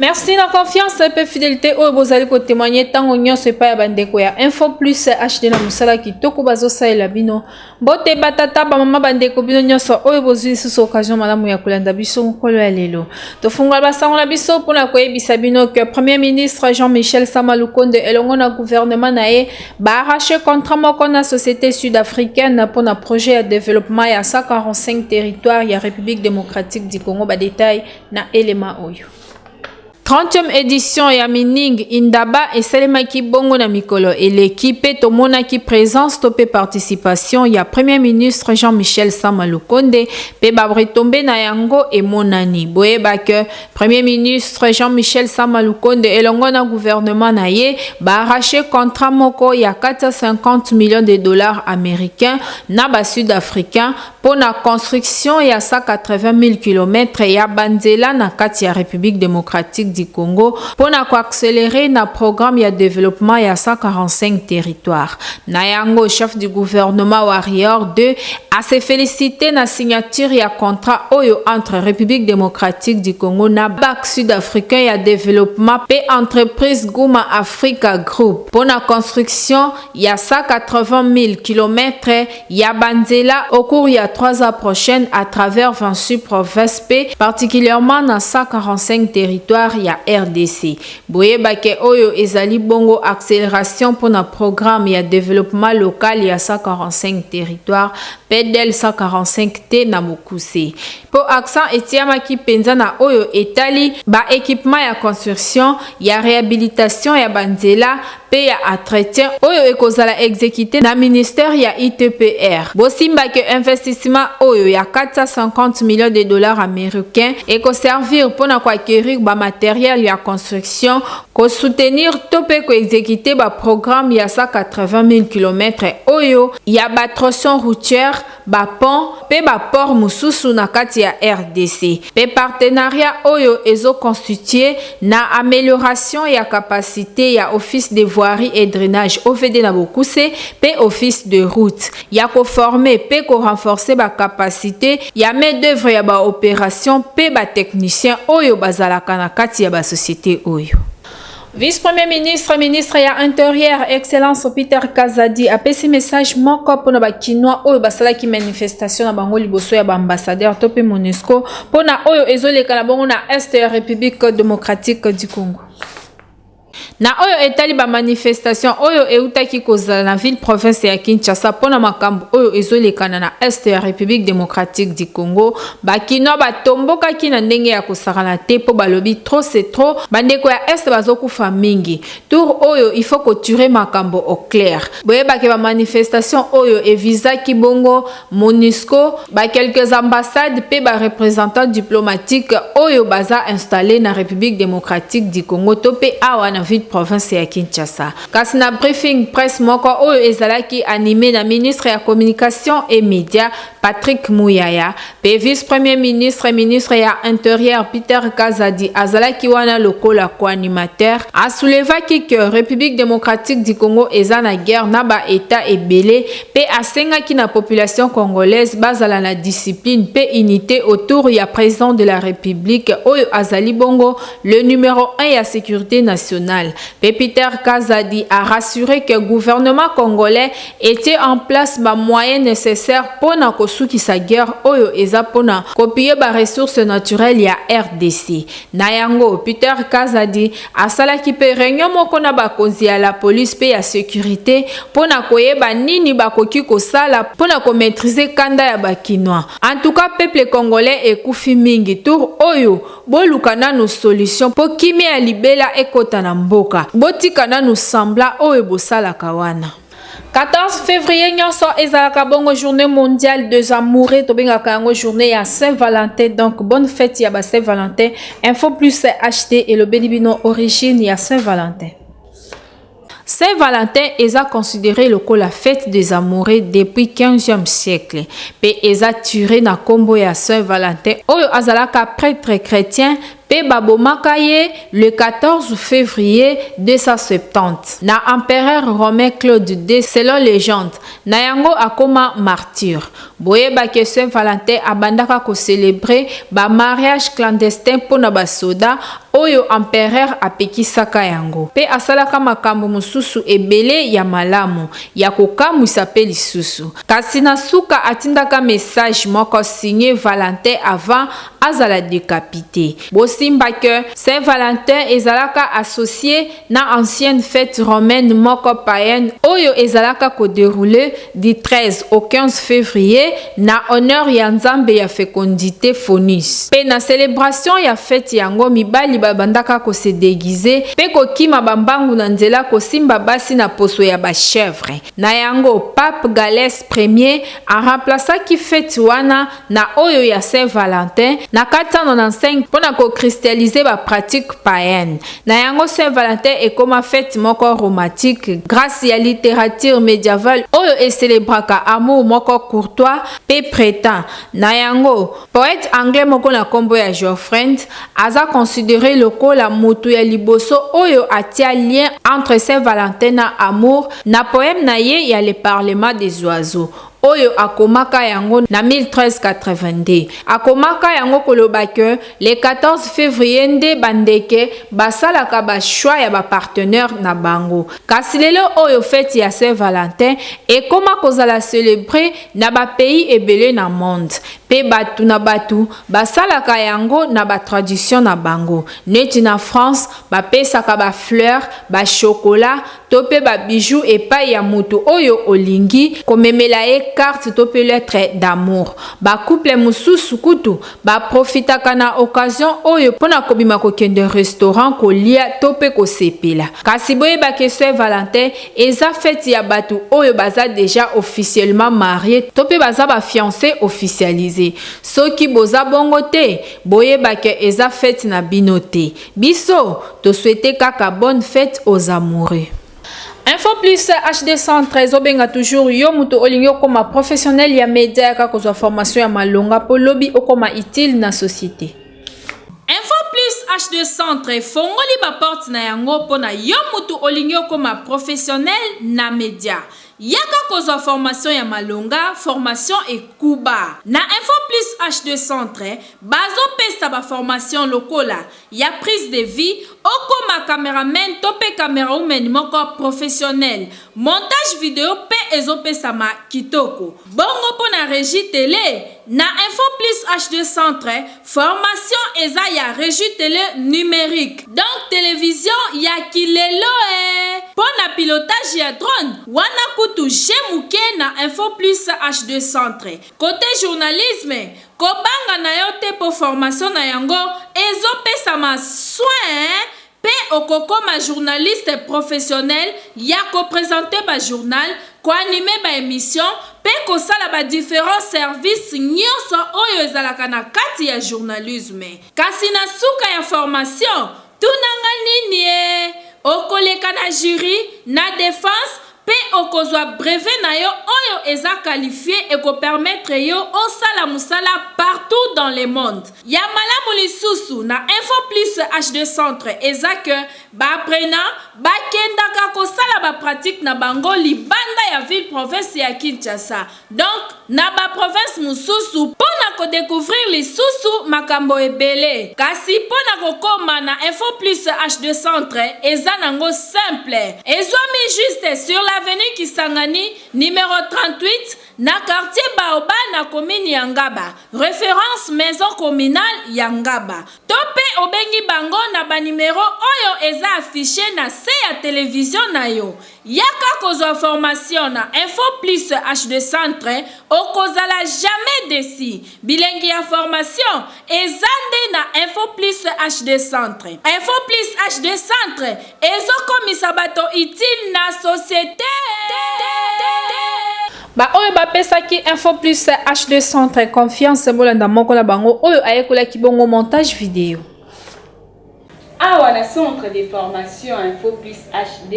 Merci na confiance mpe fidelité oyo bozali kotemoigne ntango nyonso epai ya bandeko ya info plus hd na mosala kitoko bazosalela bino mbote batata bamama bandeko bino nyonso oyo bozwi lisusu occasion malamu ya kolanda biso mokolo ya lelo tofungola basango na biso mpo na koyebisa bino ke premier ministre jean michel sama lukonde elongo na gouvernement na ye baarrache contrat moko na société sud africaine mpo na projet ya développement ya 145 territoire ya république démocratique du congo badetail na elema oyo. 30e edition ya Mining Indaba esalemaki bongo na mikolo eleki mpe tomonaki présence to mpe participation ya Premier ministre Jean-Michel Sama Lukonde mpe ba retombées na yango emonani boyeba que Premier ministre Jean-Michel Sama Lukonde elongo na gouvernement na ye ba arraché contrat moko ya 450 millions de dollars américains na ba sud-africains mpo na construction ya 180000 kilomètre ya banzela na kati ya Republique democratique du Congo mpo na ko accelerer na programme ya developpement ya 145 territoires. Na yango, chef du gouvernement Warrior 2 a se feliciter na signature ya contrat oyo entre Republique democratique du Congo na Banque sud-africain ya developpement mpe entreprise Guma Africa Group mpo na construction ya 180000 kilomètre ya ba nzela au cours ya trois ans prochaines à travers 26 provinces mpe particulièrement na 145 territoires ya rdc. Boyeba ke oyo ezali bongo acceleration mpo na programme ya developpement local ya 145 territoires, PDL 145 te na mokuse. Mpo accent etiamaki mpenza na oyo etali ba equipements ya construction, ya rehabilitation ya ba nzela pe ya entretien oyo ekozala execute na ministère ya ITPR. Bosimba que investissement oyo ya 450 millions de dollars américains ekoservir pona ko acquérir ba matériels ya construction, ko soutenir to pe ko executer ba programmes ya 180 000 kilomètres oyo ya ba tronçons routières, ba ponts mpe ba ports mosusu na kati ya rdc mpe partenariat oyo ezo constituer na amelioration ya capacite ya Office de Voirie et Drainage, OVD, na bokuse mpe Office des Routes ya ko former mpe ko renforcer ba capacites ya main d'oeuvre ya ba operations mpe ba techniciens oyo bazalaka na kati ya ba societes oyo. Vice-Premier ministre, ministre ya Interieur, Excellence Peter Kazadi apesi message moko mpona ba Kinois oyo basalaki manifestation na bango liboso ya ba ambassadeurs to mpe MONUSCO mpona oyo ezoleka na bongo na Est ya République démocratique du Congo. na oyo etali bamanifestation oyo eutaki kozala na ville province ya kinshasa mpo na makambo oyo ezolekana na est ya république démocratique du congo Ba kinois ba tombokaki na ndenge ya kosakana te po balobi trop c'est trop bandeko ya est bazo kufa mingi tour oyo il faut ko turer makambo au clair boyeba ke ba manifestation oyo e visaki bongo monusco ba quelques ambassades pe ba representants diplomatiques oyo baza installer na Republique democratique du Congo to pe awa na ville province ya Kinshasa kasi na briefing presse moko oyo ezalaki anime na ministre ya communication et media Patrick Muyaya, pe vice-premier ministre ministre ya interieur Peter Kazadi azalaki wana lokola co-animateur, a soulevaki que Republique democratique du Congo eza na guerre na ba Etats ebele pe asengaki na population congolaise bazala na discipline pe unite autour ya President de la Republique oyo azali bongo le numero un ya securite nationale. Pe Peter Kazadi a rassurer que gouvernement congolais etie en place ba moyens necessaires mpo na kosukisa guerre oyo eza mpo na kopiller ba ressources naturelles ya rdc. Na yango, Peter Kazadi asalaki mpe reunion moko na bakonzi ya la police mpe ya securite mpo na koyeba nini bakoki kosala mpo na ko maitriser kanda ya ba Kinois. En tout cas, peuple congolais ekufi mingi tour oyo. Boluka nanu solution po kimia ya libela ekota na mboka. Botika nanu sembla oyo bosalaka wana. 14 fevrier nionso ezalaka bongo journee mondiale des amoureux tobengaka yango journee ya saint valentin donc bonne fete ya ba saint valentin info plus hd elobeli bino origine ya saint valentin Saint Valentin eza considere lokola fete des amoureux depuis 15e siècle pe eza tire na kombo ya Saint Valentin oyo azalaka pretre chretien pe babomaka ye le 14 fevrier 270 na empereur romain Claude ii selon legende na yango akoma martyr. Boyeba que Saint Valentin abandaka ko celebrer ba mariages clandestins mpo na ba soda oyo empereur apekisaka yango. Mpe asalaka makambo mosusu ebele ya malamu, ya kokamwisa mpe lisusu. Kasi na suka atindaka message moko signe Valentin avant azala decapite. Bosimba que Saint Valentin ezalaka associe na ancienne fete romaine moko païenne oyo ezalaka ko derouler du 13 au 15 fevrier na honneur ya nzambe ya fecondite Faunus. Pe na celebration ya fete yango mibali babandaka ko se deguiser pe kokima ba mbangu na nzela kosimba basi na poso ya ba chèvres. Na yango Pape Gallès Ier a remplacaki fete wana na oyo ya Saint Valentin na 495 mpo na ko christialiser ba pratiques païennes. Na yango Saint Valentin ekoma fete moko romantique grace ya litterature medievale oyo e celebraka amour moko courtois mpe pretent. Na yango, poète anglais moko na kombo ya Geoffrand aza considerer lokola mutu ya liboso oyo atia lien entre Saint Valentin na amour na poème na ye ya Le Parlement des oiseaux. oyo akomaka yango na 1382. Akomaka yango koloba que le 14 fevrier nde ba ndeke basalaka ba choix ya ba partenaires na bango. Kasi lelo oyo feti ya Saint Valentin ekoma kozala celebrer na ba pays ebele na monde mpe batu na batu basalaka yango na ba traditions na bango. Neti na France bapesaka ba fleurs, ba chocolats to pe ba bijoux epayi ya mutu oyo olingi ko memela ye carte to pe lettre d'amour. Ba couple mususu kutu ba profitaka na occasion oyo pona kobima ko kende restaurant ko lia to pe ko sepela. Kasi bo yeba ke Saint Valentin eza fete ya batu oyo baza dejà officiellement marie to pe baza ba fiance officialise. Soki boza bongo te, bo yeba ke eza fete na bino te. Biso to souhaite kaka bonne fete aux amoureux. Info plus HD centre ezobenga toujours yo moto olingi okoma professionnel ya media yaka kozwa formation ya malonga mpo lobi okoma utile na société. Info plus HD centre efongoli baporte na yango mpo na yo moto olingi okoma professionnel na media. Yaka kozwa formation ya malonga, formation ekuba. Na Info Plus HD Centre, bazo pesa ba formation lokola, ya prise de vue, okoma cameraman to pe camerawoman moko professionnel. Montage video pe ezo pesama kitoko. Bongo pona regie tele? Na info plus HD centre formation eza ya regie tele numerique donc television ya ki lelo ee pona pilotage ya drone wana kutu je muke na info plus HD centre cote journalisme kobanga nayo te po formation na yango ezo pesama soin Pe okokoma journaliste professionnel ya ko presenter ba journal, ko animer ba emissions pe kosala ba differents services nionso oyo ezalaka na kati ya journalisme. Kasi na suka ya formation, tuna nga niniee, okoleka na jury, na defense, Pe okozwa brevet na yo oyo eza qualifie e ko permettre yo osala musala partout dans le monde. Ya malamu lisusu na Info Plus HD Centre eza que ba apprenants ba kendaka kosala ba pratiques na bango libanda ya ville province ya Kinshasa. Donc na ba provinces mosusu mpo na ko decouvrir lisusu makambo ebele. Kasi mpo na kokoma na Info Plus HD Centre eza nango simple. Ezwami juste sur l'avenue Kisangani numero 38 na quartier Baobab na commune ya Ngaba, reference maison communale ya Ngaba. To mpe obengi bango na ba numeros oyo eza affiches na se ya television na yo. Yaka kozwa formation na info plus HD centre okozala jamais deçu bilengi ya formation eza nde na info plus HD centre info plus HD centre ezo komisa bato utile na societe. Ba oyo ba pesaki info plus HD centre confiance bolanda moko na bango oyo ayekolaki bongo montage video. Awa na centre de formation info plus HD.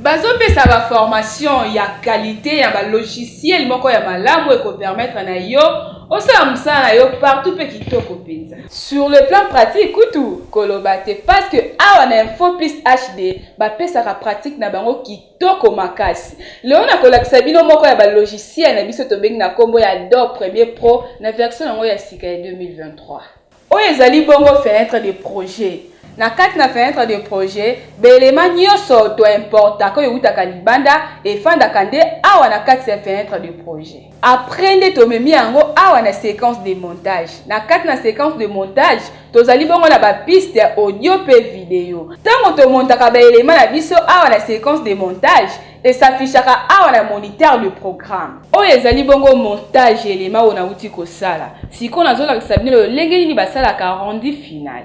Bazo pesa ba formation ya qualite ya ba logiciel moko ya malamu eko permettre na yo osala musala na yo partout pe kitoko penza. Sur le plan pratique kutu koloba te parce que awa na info plus HD ba pesaka pratique na bango kitoko makasi. Lelo nako lakisa bino moko ya ba logiciel na biso tobengi na kombo ya Adobe Premier Pro na version na ngo ya sika ya 2023. Oyo ezali bongo fenetre de projet. Na kati na fenetre de projet, ba elements nionso to importaka oyo ewutaka libanda efandaka nde awa na kati ya fenetre de projet. Après nde tomemi yango awa na sequence de montage. Na kati na sequence de montage, tozali bongo na ba pistes ya audio mpe video. Tango to montaka ba elements na biso awa na sequence de montage, E s'affichaka awa na moniteur de programme. Oyo ezali bongo montage ya elema oyo nawuti kosala. Sikoyo nazolakisa bino lolenge nini basalaka rendu final.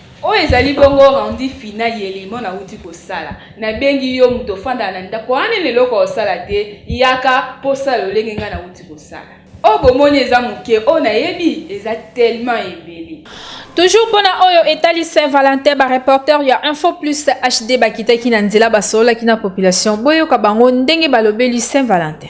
Oyo ezali bongo rendu final ya elimo nawuti kosala. Nabengi yo moto ofandaka na ndako wana nanu eloko ya kosala te, yaka mpo osala lolenge ngai nawuti kosala. Oyo bomoni eza moke, oyo nayebi eza tellement ebele. Toujours mpo na oyo etali Saint Valentin, ba reporteurs ya Info Plus HD bakitaki na nzela basololaki na population. Boyoka bango ndenge balobeli Saint Valentin.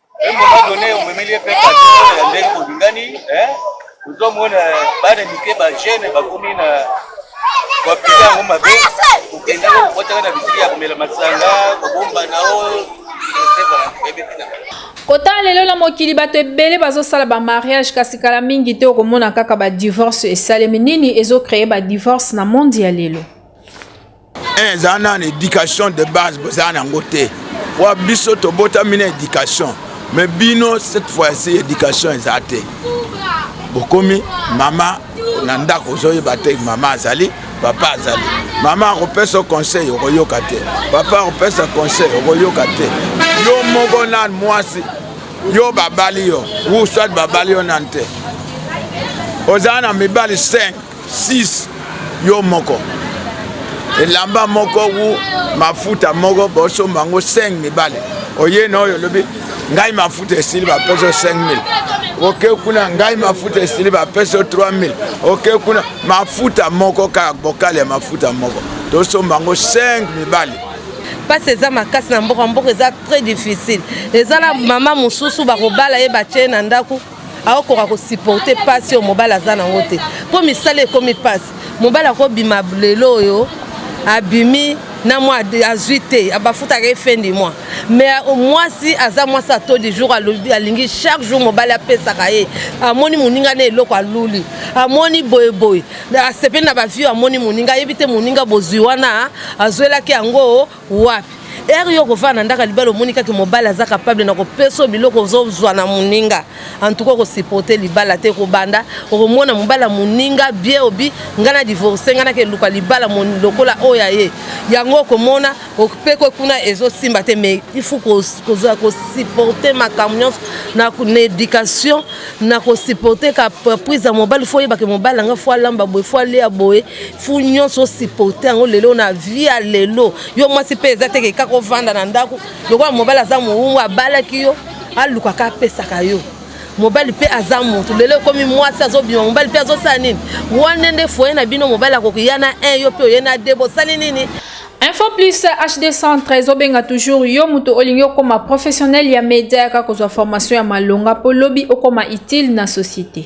Embo na done omemeli epe kati ya ndenge bolingani eh ozomona bana mike ba jeune bakomi na bapika yango mabe kokenda kotaka na bisiki ya komela masanga kobomba na o kotala lelo na mokili bato ebele bazosala bamariage kasi kala mingi te okomona kaka badivorce esalemi nini ezocreye badivorce na mondi ya lelo eh, eza na na éducation de base boza na yango te wa biso tobotami na éducation mais bino cette fois-ci éducation eza te bokomi mama na ndako ozoyeba te mama azali papa azali mama akopesa conseil okoyoka te papa akopesa conseil okoyoka te yo moko na mwasi yo babali yo uswat babali yo nani te oza na mibali 5 6 yo moko elamba moko ou mafuta moko bosomba yango 5 mibale oye na oyo olobi ngai mafuta esili bapeso 5000 oke kuna ngai mafuta esili bapeso 3000 oke kuna mafuta moko kaka bokale ya mafuta moko tosomba yango 5 mibale mpasi eza makasi na mboka mboka eza très difficile eza na mama mosusu bakobala ye batye na ndako akokoka kosuporte mpasi oyo mobali aza nango te mpo misala ekomi mpasi mobali akobima lelo oyo abimi na mwa azwi te bafutaka ye fin du mois mais euh, mwasi aza mwasi ato du jour alingi chaque jour mobali apesaka ye amoni moninga na eloko aluli amoni boyeboye asepeli na bavio amoni moninga ayebi te moninga bozwi wana azwelaki yango wapi ere yo okofana na ndako ya libala omoni kaka mobali aza kapable na kopesa biloko ozozwa na moninga antuka okosipote libala te kobanda okomona mobali ya moninga bie obi ngai na divorce ngai nake eluka libala lokola oyo ya ye yango okomona opekwe kuna ezosimba te mais ifu kosipote makambo nyonso na éducation nako supporter ka prise ya mobali fo oyebake mobali yanga fo alamba boye fo alia boye fu nyonso osupporte yango lelo na vie ya lelo yo mwasi mpe eza teke kaka ovanda na ndako lokola mobali aza mowumu abalaki yo alukaka apesaka yo mobali mpe aza moto lelo ekomi mwasi azobima mobali mpe azosala nini wana nde foye na bino mobali akokiya na 1 yo mpe oye na 2 bosali nini info plus hd centre ezobenga toujours yo moto olingi okoma professionnel ya media yaka kozwa formation ya malonga mpo lobi okoma utile na société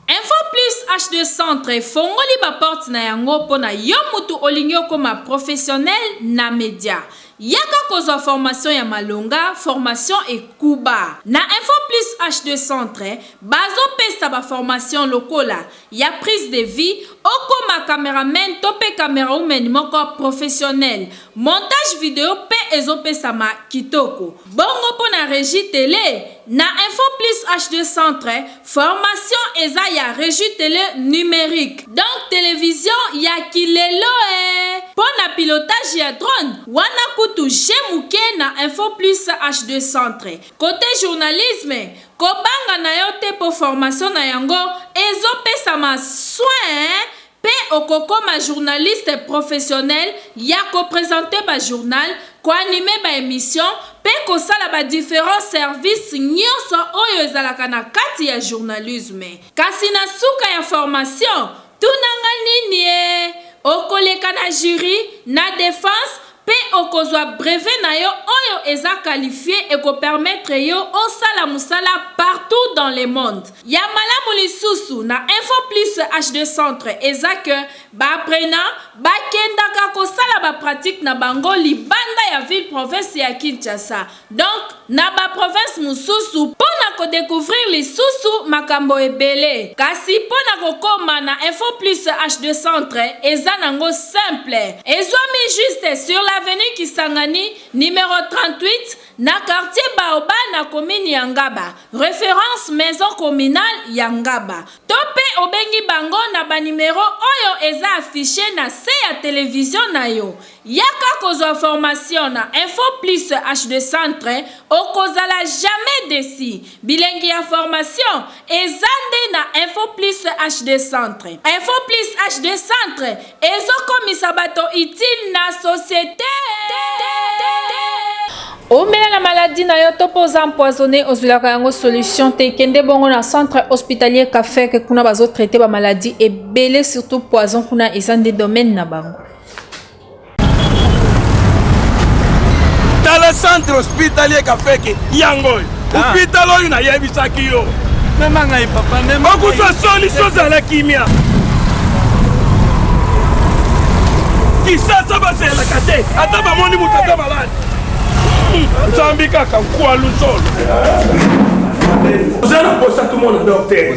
info plus hd centre efongoli baporte na yango mpo na yo moto olingi okoma professionnel na media yaka kozwa formation ya malonga formation ekuba na info plus hd centre bazopesa baformation lokola ya prise de vie okoma cameraman to pe camera woman moko professionnel montage video pe ezo pesama kitoko bongo pona regie tele na info plus HD centre formation eza ya regie tele numerique donc television ya ki lelo ee pona pilotage ya drone wana kutu je muke na info plus HD centre cote journalisme Kobanga na yo te po formation na yango ezo pesama soin pe okokoma journaliste professionnel ya ko presenter ba journal, ko animer ba emissions pe kosala ba differents services nionso oyo ezalaka na kati ya journalisme. Kasi na suka ya formation, Tuna nga nini eh? Okoleka na jury, na defense, mpe okozwa brevet na yo oyo eza qualifie eko permettre yo osala musala partout dans le monde. Ya malamu lisusu na Info Plus HD Centre eza que ba apprenants bakendaka kosala ba pratiques na bango libanda ya ville-province ya Kinshasa. Donc na ba provinces mosusu mpo na ko decouvrir lisusu makambo ebele. Kasi mpo na kokoma na Info Plus HD Centre eza nango simple. Ezwami juste sur l'avenue Kisangani numero 38 na quartier Baobab na commune ya Ngaba, reference maison communale ya Ngaba. To mpe obengi bango na ba numeros oyo eza affiches na se ya television na yo. Yaka kozwa formation na info plus HD centre okozala jamais deçu bilengi ya formation eza nde na info plus HD centre info plus HD centre ezo komisa bato utile na societe. Oumela na maladie na yo to mpe oza empoisonne ozwilaka yango solution te kende bongo na centre hospitalier cafeke kuna bazotraite bamaladi ebele surtout poison kuna eza nde domaine na bango tala centre hospitalier kafeke yango oyo hôpital ah. oyo nayebisaki yo mema ngai papa okozwa solution ozala kimia kisasa bazelaka te ata bamoni moto ata maladi hmm, zambi kaka nkwalu solo oza na posa tumona docteur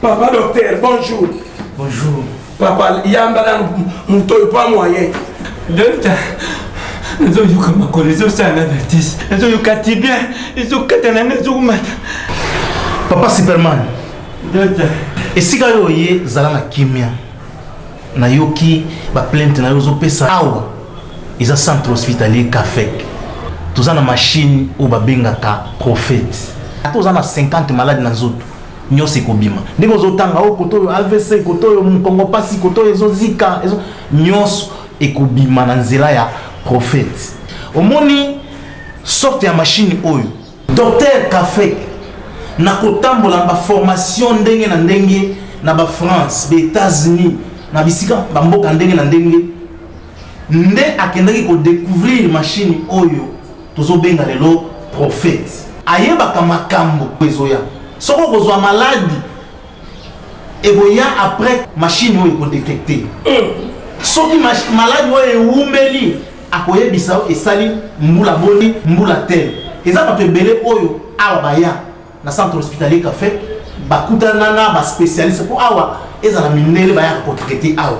Papa docteur, bonjour. Bonjour. Papa, yamba na moto oyo pa moyen. Docteur, nazoyoka makolo ezosala na vertige nazoyoka tibia ezokata nanga ezokomata papa superman docteur esika yo oye zala na kimia nayoki baplainte na yo ozopesa awa eza centre hospitalier cafec toza na mashine oyo babengaka prophète ata oza na 50 malade na nzoto nyonso ekobima ndenge ozotanga o oh, koto oyo avc koto oyo mokongo mpasi koto oyo ezozika ezo... nyonso ekobima na nzela ya profete omoni sorte ya mashine oyo docteur kafek na kotambola na baformation ndenge na ndenge na bafrance baetats-unis na bisika bamboka ndenge na ndenge nde akendaki kodecouvrir mashine oyo Tozo benga lelo prophète. Ayebaka makambo ezoya. Soki okozwa maladi ekoya après machine oyo ekodetecte. Mm. Soki maladi oyo ewumeli akoyebisa yo esali mbula boni mbula tele. Eza bato ebele oyo awa baya Na centre hospitalier Caffe, bakutana na ba specialiste po awa ezala mindele bayaka ko traiter awa.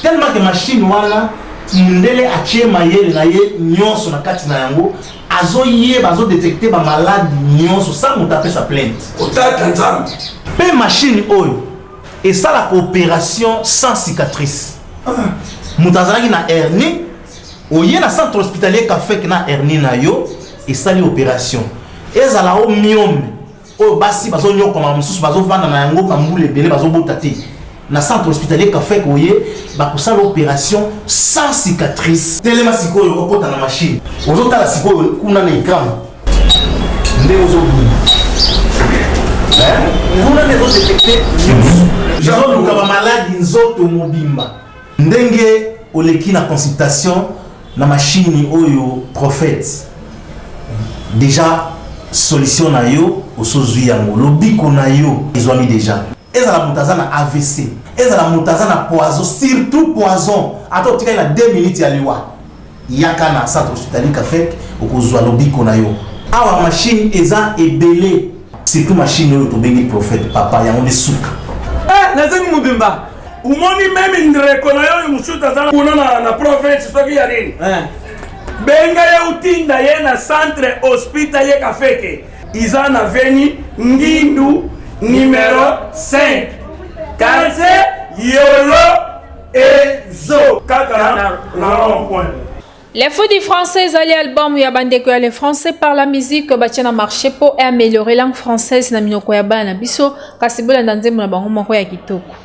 Tellement que machine wana mundele atie mayele na ye nyonso na kati na yango azoyeba azo detecte ba malade nyonso sans moto apesa plainte otata nzambe mpe mashine oyo esalaka operation sans cicatrice moto azalaki na hernie oye na centre hospitalier kafek na hernie na yo esali operation ezala o miome oyo basi bazonyokwama mosusu bazovanda na yango bambula ebele bazobota te na centre hospitalier kafek oye bakosala operation sans cicatrice telema sikoyo okota na machine ozotala sikoyo kuna na ekran nde ozobunda kuna nde ezodetekte nyonso ezoluka bamaladi nzoto mobimba Ndenge oleki na consultation na machine oyo prophète deja solution na yo osozwi yango lobiko na yo ezwami deja ezala moto aza na avc ezala moto aza na poison surtout poison ata otikali na 2 minutes ya liwa Yaka na Centre Hospitalier Kafek, okozua lobiko na yo. Awa machine eza ebele. Surtout machine oyo tobengi prophète papa yango nde suka. Eh, nazangi mobimba. Umoni meme ndreko na yo mosusu aza kuna na, na province soki ya nini eh. benga ye utinda ye na centre hospital ye kafeke iza na veni ngindu numero 5 quartier yolo ezo kaka na rond point Les Fous du Français ezali album ya bandeko ya le français par la musique batya na marché mpo améliorer langue française na minoko ya bana na biso kasi bolanda nzembo na bango moko ya kitoko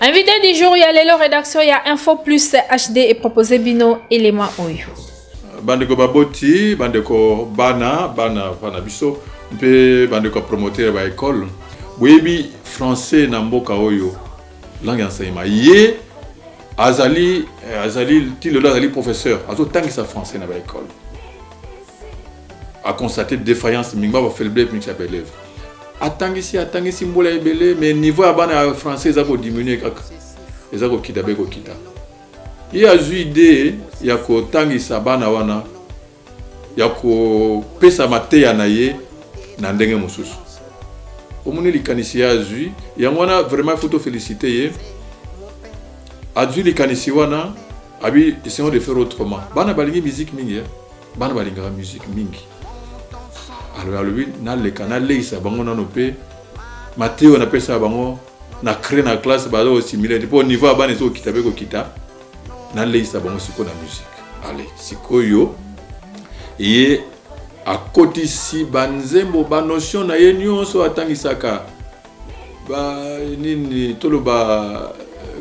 Invité du jour ya lelo rédaction ya Info Plus HD et proposé bino élément oyo. Bandeko baboti, bandeko bana, bana bana biso mpe bandeko promoteur ba école. Boyebi français na mboka oyo langue enseignement ye azali eh, azali ti lelo azali professeur azotangisa français na ba école a constaté défaillance mingi ba faiblesse mingi ya ba élèves atangisi atangisi mbula ebele mais niveau ya bana ya français eza kodiminue kaka eza kokita be kokita ye azwi idee ya kotangisa bana wana ya kopesa mateya na ye na ndenge mosusu omoni likanisi ye azwi yango wana vraiment ifo tofelicite ye azwi likanisi wana abi essayons de faire autrement bana balingi musique mingi eh? bana balingaka musique mingi alors alobi naleka naleisa bango nano mpe mateyo napesaka bango na cré na classe baza kosimile te mpo niveau ya bana ezokokita mpe kokita naleisa bango sikoyo na musike ale sikoyo ye akotisi banzembo banotion na ye nyonso atangisaka ba nini toloba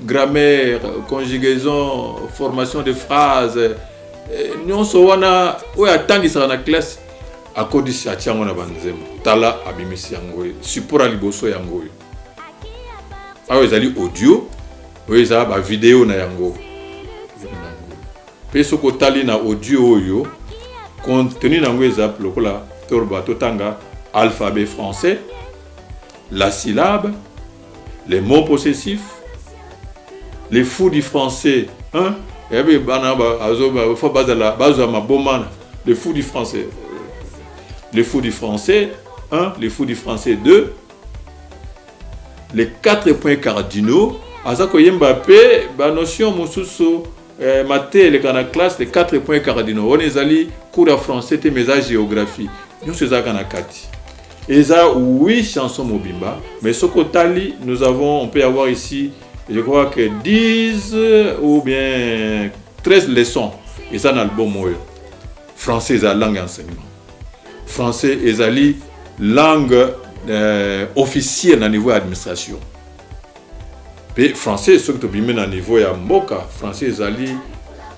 grammaire conjugaison formation de phrase eh, nyonso wana oyo atangisaka na classe akodisi atia yango na banzembo tala abimisi yango oyo support ya liboso yango oyo awa ezali audio oyo eza bavideo na yango mpe soki otali na audio oyo contenu na yango eza lokola toloba totanga alphabet français la syllabe, les mots possessifs, les fous du français, hein? yabi eh bana faut bazala bazwa maboma les fous du français les fous du français 1 les fous du français 2 les quatre points cardinaux aza koyemba mpe banotion mosusu Eh, mate eleka na classe les 4 points cardinaux wana ezali cours ya français te mais eza géographie nyonso ezalaka na kati eza oui chanson mobimba mais soki otali nous avons on peut avoir ici je crois que 10 ou bien 13 leçons eza na album oyo français eza langue ya enseignement français ezali langue euh, officielle na niveau ya administration mpe français soki tobimi na niveau ya mboka français ezali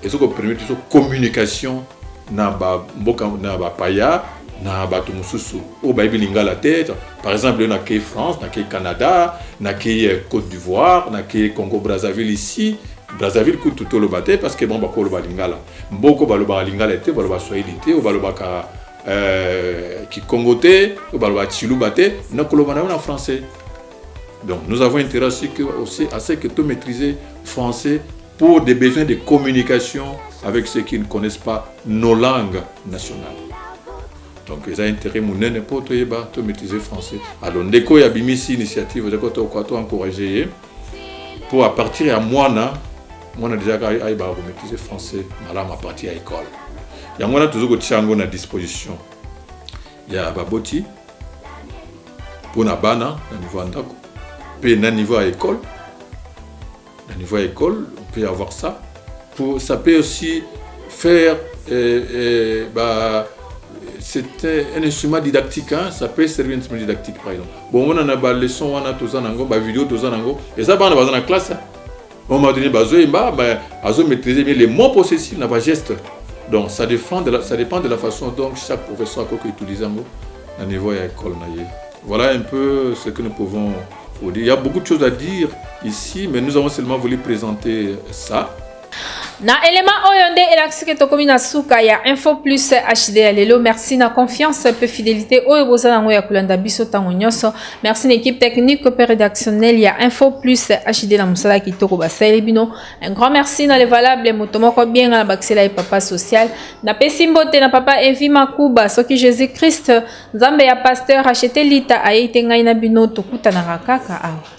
ezo ko permettre biso communication na ba mboka na ba paya na bato mosusu oyo bayebi lingala te par exemple yo nakei france nakei canada nakei euh, côte d'ivoire nakei congo brazzaville ici brazzaville kutu toloba te parce que bango bakoloba lingala mboko balobaka lingala te baloba swahili te oyo balobaka euh, kikongo te oyo baloba chiluba te nakoloba na yo na français Donc nous avons intérêt à ce que, aussi, à ce que tout maîtriser français pour des besoins de communication avec ceux qui ne connaissent pas nos langues nationales. Donc ils ont intérêt munene pour tout yeba tout maîtriser français. Alors ndeko ya bimisi initiative de koto quoi tout encourager pour à partir ya mwana mwana déjà ka ayeba ko maîtriser français malam à partir ya école. Yango na toujours ko tiango na disposition. ya baboti mpo na bana na niveau ya ndako mpe na niveau ya ekole na niveau ya ekole on peut avoir ça pour ça peut aussi faire euh, euh, bah, c'était un instrument didactique hein? ça peut servir un instrument didactique par exemple bomona na baleson wana toza nango bavideo toza nango eza bana baza na classe hein? moment donné bazo yemba mais azo maîtriser bien les mots possessifs na ba gestes donc ça dépend de la, ça dépend de la façon donc chaque professeur akoki utiliser yango na niveau ya école na ye voilà un peu ce que nous pouvons vous dire il y a beaucoup de choses à dire ici mais nous avons seulement voulu présenter ça na elema oyo nde elakisi ke tokomi na suka ya info plus hd ya lelo merci na confiance mpe fidelité oyo boza nango ya kolanda biso ntango nyonso Merci na équipe technique et rédactionnelle ya Info Plus HD na musala kitoko basali bino. Un grand merci na le valable moto moko bien na bakisela ye papa social. Na pesi mbote na papa Evi Makuba soki Jésus Christ Nzambe ya pasteur acheté lita ayete ngai na bino tokutanaka kaka awa.